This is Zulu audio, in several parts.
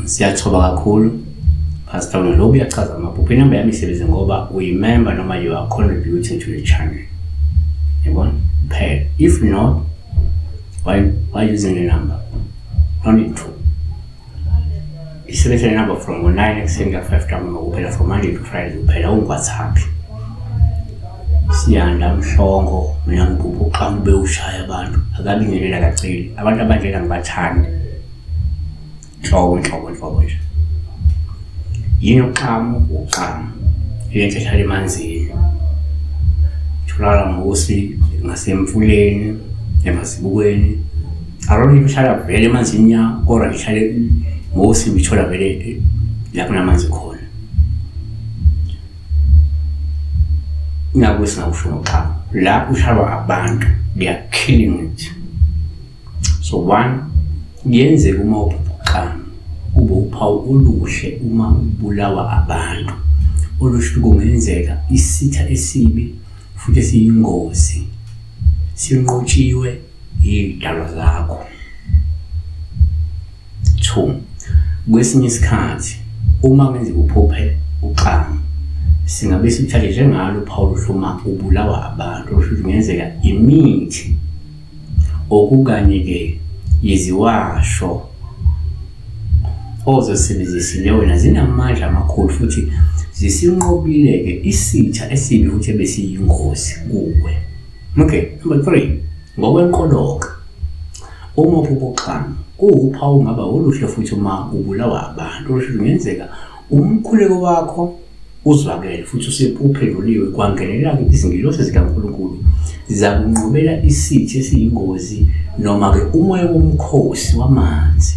siyathoba kakhulu Pastor Melo uyachaza amaphupho inamba yami isebenze ngoba uyimember noma you are contributing to the channel yabona kuphela if not why why using the number no need to isebenzisa inamba from ngo-nine ekuseni kuya-five ntambama kuphela from monday to friday kuphela ungwathaphi siyanda mhlongo mina ngibhubha uqamu bewushaya abantu akabingelela kaceli abantu abanjena ngibathandi nhlobo nhlobo nhlobo nje yini uqamu uqamu ile nto ehlala emanzini tholakala ngokusi ngasemfuleni emasibukweni Aroni kuhlala vele emanzini ya kodwa ngihlale ngosi ngithola vele eh, lapho namanzi khona. Nakuthi singakusho ngoxa la kuhlala abantu they are killing it. So one kuyenzeka uma uphuphuqana kube uphawu oluhle uma ubulawa abantu olusho kungenzeka isitha esibi futhi esiyingozi sinqotshiwe Yidalwa zakho. 2. Kwesinye isikhathi uma kwenzeka uphuphe uxanga singabe simthathe njengalo uphawu luhluma ubulawa abantu kusho kungenzeka imithi okukanye-ke yiziwasho ozosebenzisile wena zinamandla amakhulu futhi zisinqobile-ke isitha esibi futhi ebesiyingozi kuwe Okay, number 3. Ngokwenkoloka. Uma ububuxhama kuwuphawu ungaba oluhle futhi uma ubulawa abantu oluhle kungenzeka umkhuleko wakho uzwakele futhi usepuphenduliwe kwangenelela-ke izingilosi zikaNkulunkulu zakunqobela isithi esiyingozi noma-ke umoya womkhosi wamanzi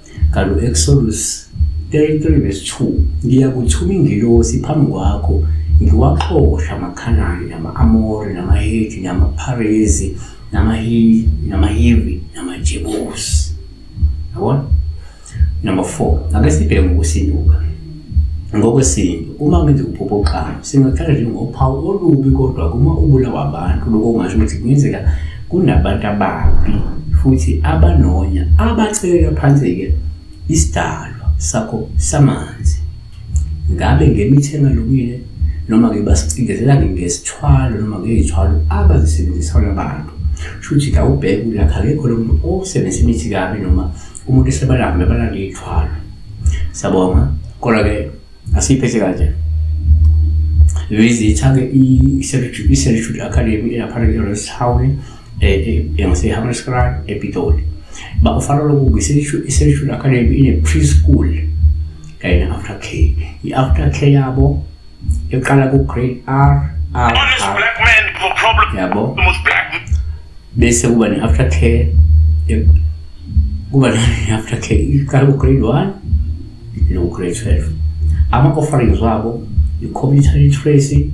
Kalo Exodus 33 verse 2 ngiyakuthuma ingilosi phambi kwakho ngiwaxosha amaKhanani nama-Amori namaHethi namaPharezi namaHivi namaHivi namaJebusi yabona number 4 ake sibheke ngokusinuka Ngokwesintu, uma kwenza ukuphupha oqhamu, singathatha njengophawu olubi kodwa uma ubulawa abantu, lokho kungasho ukuthi kungenzeka kunabantu ababi futhi abanonya abacekela phansi-ke isidalwa sakho samanzi. Ngabe ngemithi engalungile noma-ke basicindezelani ngesithwalo noma ngey'thwalo abazisebenzisayo abantu. Shuthi kawubheke ukuthi akekho lo muntu osebenzisa imithi kabi noma umuntu esebalame balande ithwala sabonga kodwa ke asiyiphethe kanje lizitha-ke i-servitude academy elapha e-orange town engasehammerskraal epitoli bakufana lokuba i-servitude academy ine-preschool kanye ne-after care i-after care yabo eqala ku grade R R yabo bese kuba ne after care kuba ne after care iqala ku grade 1 no grade 12 ama offerings wabo i computer literacy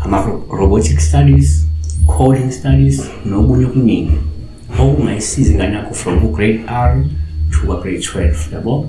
ama robotic studies coding studies nokunye okuningi okungayisiza ingane yakho from grade R to grade 12 yabo